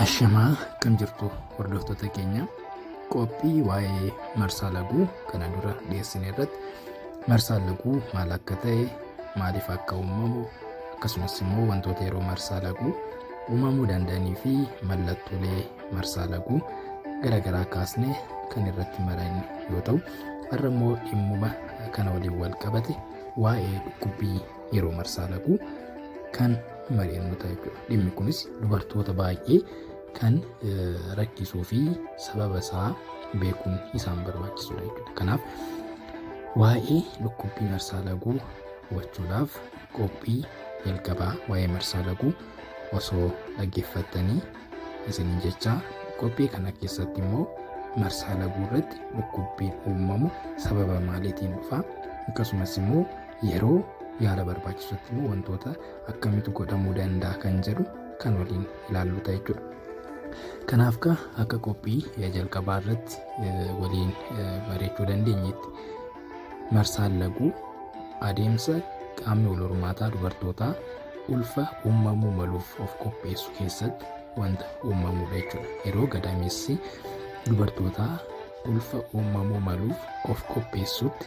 Ashamaa akkam jirtu hordoftoota keenya qophii waa'ee marsaa laguu kana dura dhiyeessine irratti marsaan laguu maal akka ta'e maaliif akka uumamu akkasumas immoo wantoota yeroo marsaa laguu uumamuu danda'anii fi mallattoolee marsaa laguu garaagaraa kaasne kan irratti maran yoo ta'u har'a immoo dhimmuma kana waliin wal qabate waa'ee dhukkubbii yeroo marsaa laguu kan mari'annu ta'a jechuudha. Dhimmi kunis dubartoota baay'ee kan rakkisuu fi sababa isaa beekuun isaan barbaachisudha jechuudha. Kanaaf waa'ee dhukkubbii marsaa laguu hubachuudhaaf qophii jalqabaa waa'ee marsaa laguu osoo dhaggeeffattanii isiniin jechaa qophii kana keessatti immoo marsaa laguu irratti dhukkubbiin uumamu sababa maaliitiin dhufa akkasumas immoo Yeroo yaala barbaachisutti immoo wantoota akkamitti godhamuu danda'a kan jedhu kan waliin ilaallu ta'a jechuudha. Kanaaf ka akka qophii jalqabaa irratti waliin bareechuu dandeenyetti marsaan laguu adeemsa qaamni wal hormaataa dubartootaa ulfa uumamuu maluuf of qopheessu keessatti wanta uumamudha jechuudha. Yeroo gadaamessi dubartootaa ulfa uumamuu maluuf of qopheessutti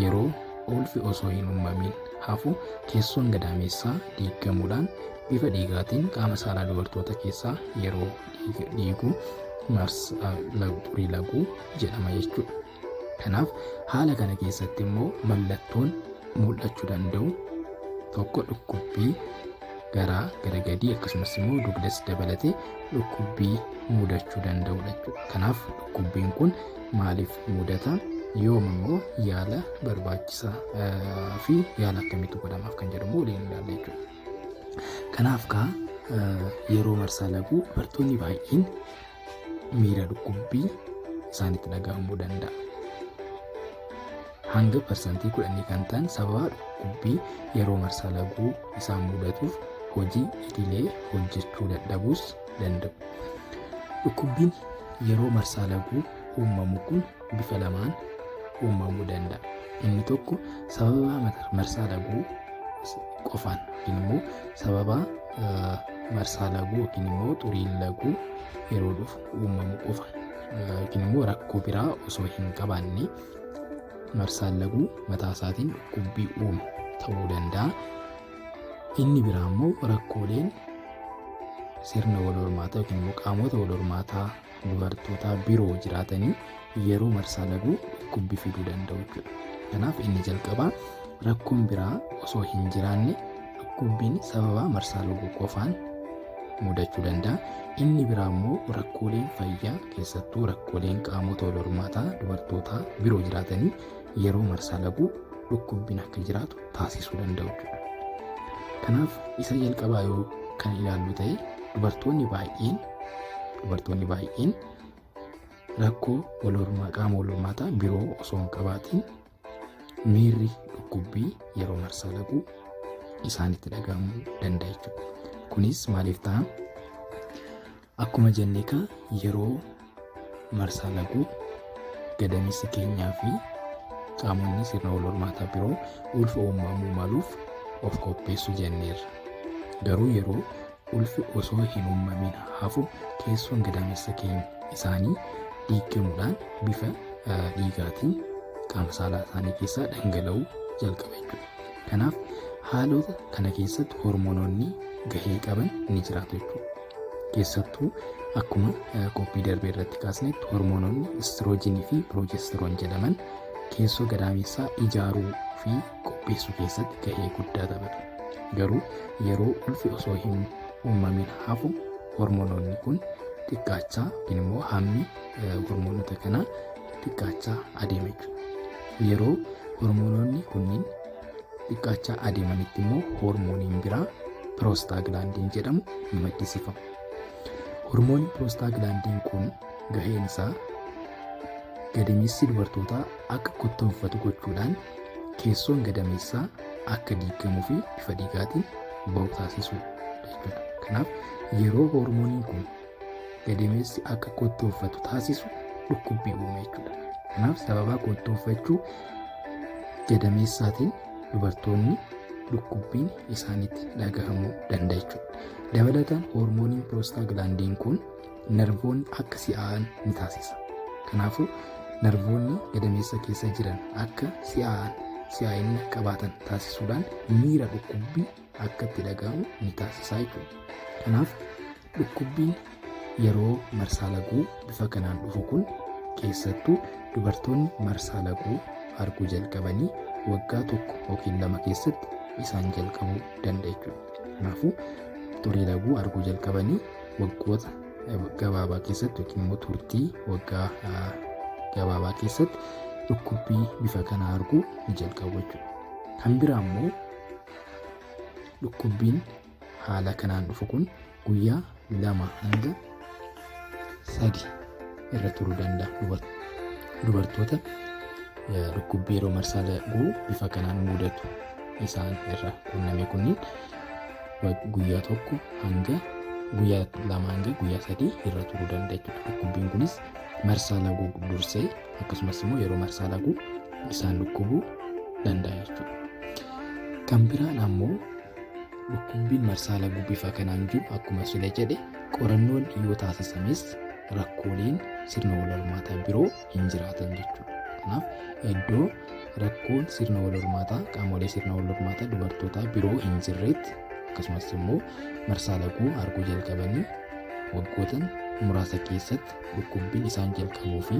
Yeroo ulfi osoo hin uumamiin hafu keessoon gadaameessaa diigamuudhaan bifa dhiigaatiin qaama saalaa dubartoota keessaa yeroo dhiigu marsaa furii laguu jedhama jechuudha. Kanaaf haala kana keessatti immoo mallattoon mul'achuu danda'u tokko dhukkubbii garaa gara gadii akkasumas immoo dugdas dabalatee dhukkubbii mudachuu danda'udha jechuudha. Kanaaf dhukkubbiin kun maaliif mudata yoom immoo yaala barbaachisaa fi yaala akkamitti godhamaaf kan jedhu immoo waliin ilaalla jechuudha. Kanaaf kaa yeroo marsaa laguu dubartoonni baay'een miira dhukkubbii isaanitti dhaga'amuu danda'a. Hanga parsantii kudhanii kan ta'an sababa dhukkubbii yeroo marsaa laguu isaan mudatuuf hojii idilee hojjechuu dadhabuus danda'u. Dhukkubbiin yeroo marsaa laguu uumamu kun bifa lamaan uumamuu danda'a. Inni tokko sababa marsaa laguu qofaan yookiin immoo sababa marsaa laguu yookiin immoo xuriin laguu yeroo dhufu uumamu qofa yookiin immoo rakkoo biraa osoo hin qabaanne marsaan laguu mataa isaatiin dhukkubbii uumu ta'uu danda'a. Inni biraa immoo rakkooleen sirna wal hormaataa yookiin immoo qaamota wal hormaataa dubartoota biroo jiraatanii yeroo marsaa laguu dhukkubbi fiduu danda'u jechuudha. Kanaaf inni jalqabaa rakkoon biraa osoo hin jiraanne dhukkubbiin sababa marsaa laguu qofaan mudachuu danda'a. Inni biraa immoo rakkooleen fayyaa keessattuu rakkooleen qaamota wal hormaataa dubartootaa biroo jiraatanii yeroo marsaa laguu dhukkubbiin akka jiraatu taasisuu danda'u jechuudha. Kanaaf isa jalqabaa yoo kan ilaallu ta'e dubartoonni baay'een dubartoonni baay'een rakkoo wal hormaa qaama wal hormaataa biroo osoo hin qabaatiin miirri dhukkubbii yeroo marsaa laquu isaanitti dhaga'amuu danda'a jechuudha. Kunis maaliif ta'a? Akkuma jennee kan yeroo marsaa laquu gadameessi keenyaa fi qaamonni sirna wal hormaataa biroo ulfa uumamuu maluuf of qopheessu jenneerra. Garuu yeroo Ulfi osoo hin uumamin hafu keessoon gadaamessa keenya isaanii diigamuudhaan bifa dhiigaatiin qaama saalaa isaanii keessaa dhangala'uu jalqaba jechuudha. Kanaaf haalota kana keessatti hormoononni gahee qaban ni jiraatu jechuudha. Keessattuu akkuma qophii darbee irratti kaasnetti hormoononni istiroojiinii fi piroojestiroon jedhaman keessoo gadaamessaa ijaaruu fi qopheessuu keessatti gahee guddaa taphata. Garuu yeroo ulfi osoo hin uumamin hafu hormonoonni kun xiqqaachaa yookiin immoo hammi hormoonota kanaa xiqqaachaa adeema jechuudha. Yeroo hormonoonni kunniin xiqqaachaa adeemanitti immoo hormooniin biraa piroostaaglaandiin jedhamu ni maddisiifama. Hormoonni piroostaaglaandiin kun gaheen isaa gadameessi dubartootaa akka kottoonfatu gochuudhaan keessoon gadameessaa akka diigamuu fi bifa dhiigaatiin ba'u taasisuu jechuudha. Kanaaf yeroo hoormooniin kun gadameessi akka kottoonfatu taasisu dhukkubbii uume jechuudha. Kanaaf sababaa kottoonfachuu gadameessaatiin dubartoonni dhukkubbiin isaanitti dhagahamuu danda'a jechuudha. Dabalataan hoormooniin piroostaagilaandiin kun Narvoonni akka si'aa'an ni taasisa. Kanaafuu narvoonni gadameessa keessa jiran akka si'aa'an si'aa'inna qabaatan taasisuudhaan miira dhukkubbii akka itti dhaga'amu ni taasisa jechuudha. Kanaaf dhukkubbiin yeroo marsaa laguu bifa kanaan dhufu kun keessattuu dubartoonni marsaa laguu arguu jalqabanii waggaa tokko yookiin lama keessatti isaan jalqabuu danda'a jechuudha. Kanaafuu xurii laguu arguu jalqabanii waggoota gabaabaa keessatti yookiin immoo turtii waggaa gabaabaa keessatti dhukkubbii bifa kanaa arguu ni jalqabu jechuudha. Kan biraa immoo dhukkubbiin haala kanaan dhufu kun guyyaa lama hanga sadi irra turuu danda'a. Dubartoota dhukkubbii yeroo marsaa laguu bifa kanaan mudatu isaan irra qunname kunniin guyyaa tokko hanga guyyaa lama hanga guyyaa sadii irra turuu danda'a jechuudha. Dhukkubbiin kunis marsaa laguu dursee akkasumas immoo yeroo marsaa laguu isaan dhukkubuu danda'a jechuudha. Kan biraan ammoo dhukkubbiin marsaa laguu bifa kanaan jiru akkuma sila jedhe qorannoon yoo taasisames rakkooleen sirna wal hormaataa biroo hin jiraatan jechuudha. Kanaaf iddoo rakkoon sirna wal hormaataa qaamolee sirna wal hormaataa dubartootaa biroo hin jirreetti akkasumas immoo marsaa laguu arguu jalqabanii waggoota muraasa keessatti dhukkubbiin isaan jalqabuu fi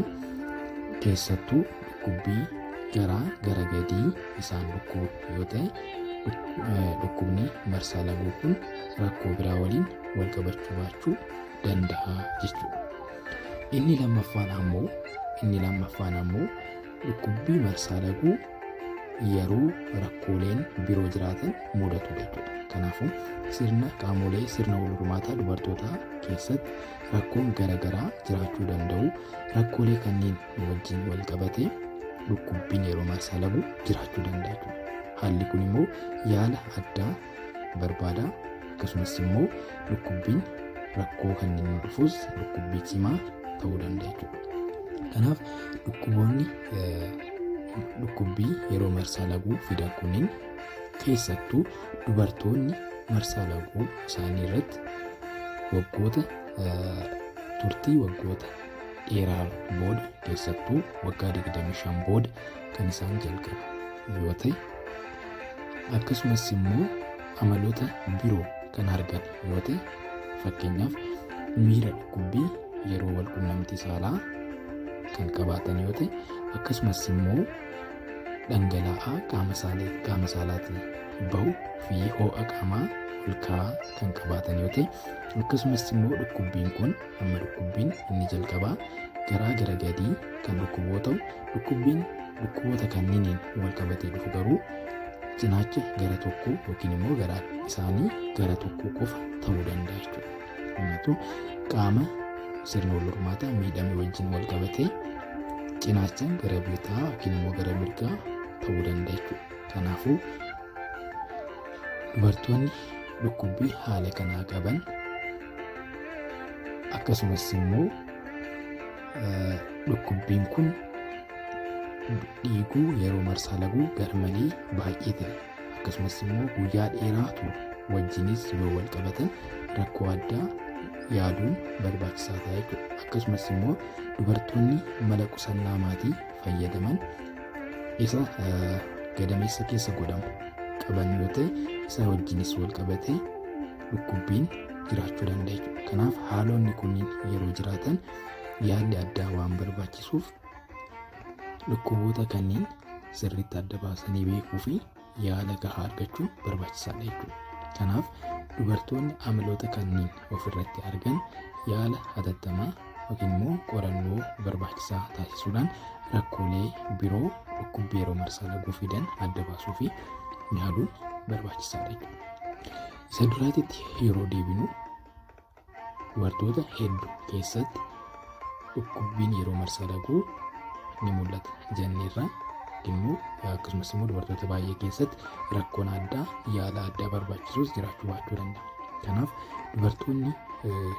keessattuu dhukkubbii garaa gara gadii isaan dhukkubu yoo ta'e dhukkubni marsaa laguu kun rakkoo biraa waliin wal qabachuu baachuu danda'a jechuudha. Inni lammaffaan ammoo inni lammaffaan ammoo dhukkubbii marsaa laguu yeroo rakkooleen biroo jiraatan mudatu jechuudha. Kanaafuu sirna qaamolee sirna wal hormaataa dubartootaa keessatti rakkoon garaagaraa jiraachuu danda'u. Rakkoolee kanneen wajjin wal qabatee dhukkubbiin yeroo marsaa laguu jiraachuu danda'a jechuudha. Haalli kun immoo yaala addaa barbaada akkasumas immoo dhukkubbiin rakkoo kan inni dhufus dhukkubbii cimaa ta'uu danda'a jechuudha. Kanaaf dhukkuboonni dhukkubbii yeroo marsaa laguu fidan kunniin keessattuu dubartoonni marsaa laguu isaanii irratti waggoota turtii waggoota dheeraa booda keessattuu waggaa 25 booda kan isaan jalqabu yoo ta'e akkasumas immoo amaloota biroo kan argan yoo ta'e fakkeenyaaf miira dhukkubbii yeroo wal qunnamtii saalaa kan qabaatan yoo ta'e akkasumas immoo dhangala'aa qaama saalee qaama saalaatiin bahu fi ho'a qaamaa olka'aa kan qabaatan yoo ta'e akkasumas immoo dhukkubbiin kun Amma dhukkubbiin inni jalqabaa garaa gara gadii kan dhukkubu yoo ta'u, dhukkubbiin dhukkuboota kanniiniin wal qabatee dhufu garuu cinaacha gara tokkoo yookiin immoo gara isaanii gara tokkoo qofa ta'uu danda'a jechuudha. Kanaafuu qaama sirna wal hormaataa miidhame wajjin wal qabatee cinaacha gara bitaa yookiin immoo gara mirgaa ta'uu danda'a jechuudha. Kanaafuu dubartoonni dhukkubbii haala kanaa qaban akkasumas immoo dhukkubbiin kun dhiiguu yeroo marsaa laguu garmalee baay'ee ta'e akkasumas immoo guyyaa dheeraa ture wajjinis yoo wal qabatan rakkoo addaa yaaduun barbaachisaa ta'a jechuudha. Akkasumas immoo dubartoonni mala qusannaa maatii fayyadaman isa gadameessa keessa godhamu qaban yoo ta'e isa wajjinis wal qabatee dhukkubbiin jiraachuu danda'a jechuudha. Kanaaf haalonni kunniin yeroo jiraatan yaalli addaa waan barbaachisuuf dhukkuboota kanneen sirriitti adda baasanii beekuu fi yaala gahaa argachuun barbaachisaadha jechuudha. Kanaaf dubartoonni amiloota kanneen ofirratti argan yaala hatattamaa yookiin immoo qorannoo barbaachisaa taasisuudhaan rakkoolee biroo dhukkubbii yeroo marsaa laguu fidan adda baasuu fi yaaluun barbaachisaadha jechuudha. Isa duraatitti yeroo deebinu dubartoota hedduu keessatti dhukkubbiin yeroo marsaa laguu ni mul'ata jenneerra immoo akkasumas immoo dubartoota baay'ee keessatti rakkoon addaa yaala addaa barbaachisus jiraachuu baachuu danda'a. Kanaaf dubartoonni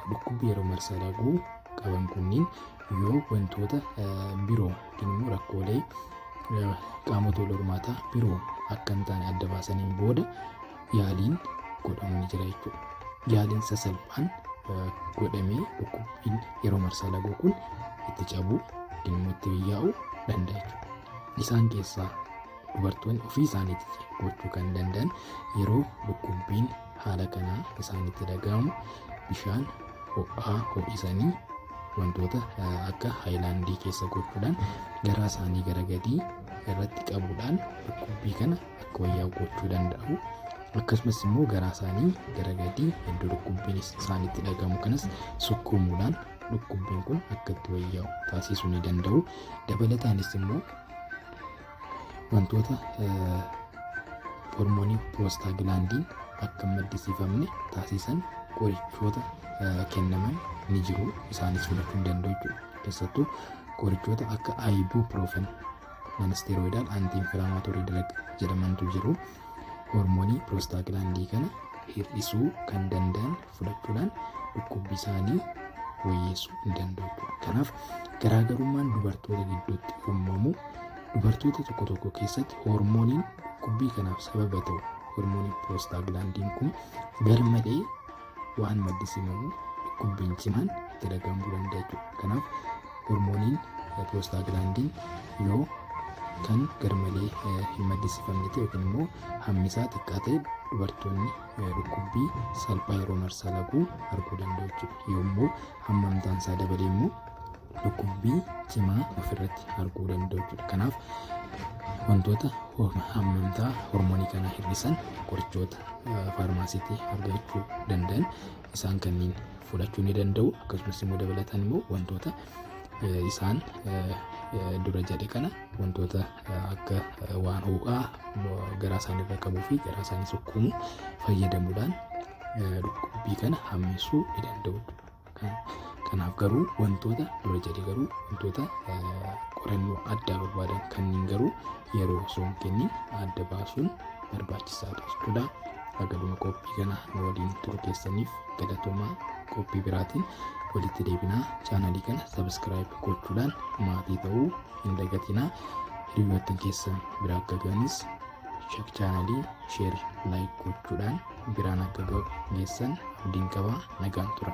dhukkubbii yeroo marsaa laguu qaban kunniin yoo wantoota biroo yookiin immoo rakkoolee qaamota wal hormaataa biroo akka hin taane adda baasaniin booda yaaliin godhamu ni jira jechuudha. Yaaliin sasalphaan godhamee dhukkubbiin yeroo marsaa laguu kun itti cabuu yookiin immoo itti biyyaa'uu danda'a jechuudha. Isaan keessaa dubartoonni ofii isaaniitti gochuu kan danda'an yeroo dhukkubbiin haala kanaa akka isaan itti dhaga'amu bishaan ho'aa ho'isanii wantoota akka haayilaandii keessa gochuudhaan garaa isaanii gara gadii irratti qabuudhaan dhukkubbii kana akka wayyaa gochuu danda'u. Akkasumas immoo garaa isaanii gara gadii iddoo dhukkubbiin isaanitti dhagahamu kanas sukkuumuudhaan dhukkubbiin kun akka itti wayyaa'u taasisuu ni danda'u. Dabalataanis immoo Wantoota hormoonii piroostaagilaandiin akka hin maddisiifamne taasisan qorichoota kennaman ni jiru. Isaanis fudhachuu hin danda'u jechuudha. Keessattuu qorichoota akka ibuprofen nanasteroidal anti-inflammatory drug jedhamantu jiru. Hormoonii piroostaagilaandii kana hir'isuu kan danda'an fudhachuudhaan dhukkubbii isaanii wayyeessuu hin danda'u. Kanaaf garaagarummaan dubartoota gidduutti uumamu dubartoota tokko tokko keessatti hoormooniin dhukkubbii kanaaf sababa ta'u hoormooniin piroostaaglaandiin kun garmalee waan maddisiifamu dhukkubbiin cimaan dalagamuu danda'a jechuudha. Kanaaf hoormooniin piroostaaglaandiin yoo kan garmalee hin maddisiifamne ta'e yookiin immoo hammi isaa xiqqaa ta'e dubartoonni dhukkubbii salphaa yeroo marsaa laguu arguu danda'u jechuudha. Yommuu hammamtaan isaa dabale immoo dhukkubbii cimaa ofirratti arguu danda'u jechuudha. Kanaaf wantoota hammamtaa hormoonii kana hir'isan qorichoota faarmaasiitti argachuu danda'an isaan kanneen fudhachuu ni danda'u. Akkasumas immoo dabalataan immoo wantoota isaan dura jedhe kana wantoota akka waan ho'aa garaa isaanii irra qabuu fi garaa isaanii sukkuumu fayyadamuudhaan dhukkubbii kana hammeessuu ni danda'u. Kanaaf garuu wantoota dura jedhe garuu wantoota qorannoo addaa barbaadan kanneen garuu yeroo osoo hin kennin adda baasuun barbaachisaadha jechuudha. Hagaduma qophii kana nu waliin turu keessaniif galatoomaa qophii biraatiin walitti deebinaa chaanalii kana sabiskiraayib gochuudhaan maatii ta'uu hin dagatinaa hiriyoottan keessan bira akka ga'anis shek chaanalii sheer laayik gochuudhaan biraan akka ga'u geessan abdiin qaba nagaan tura.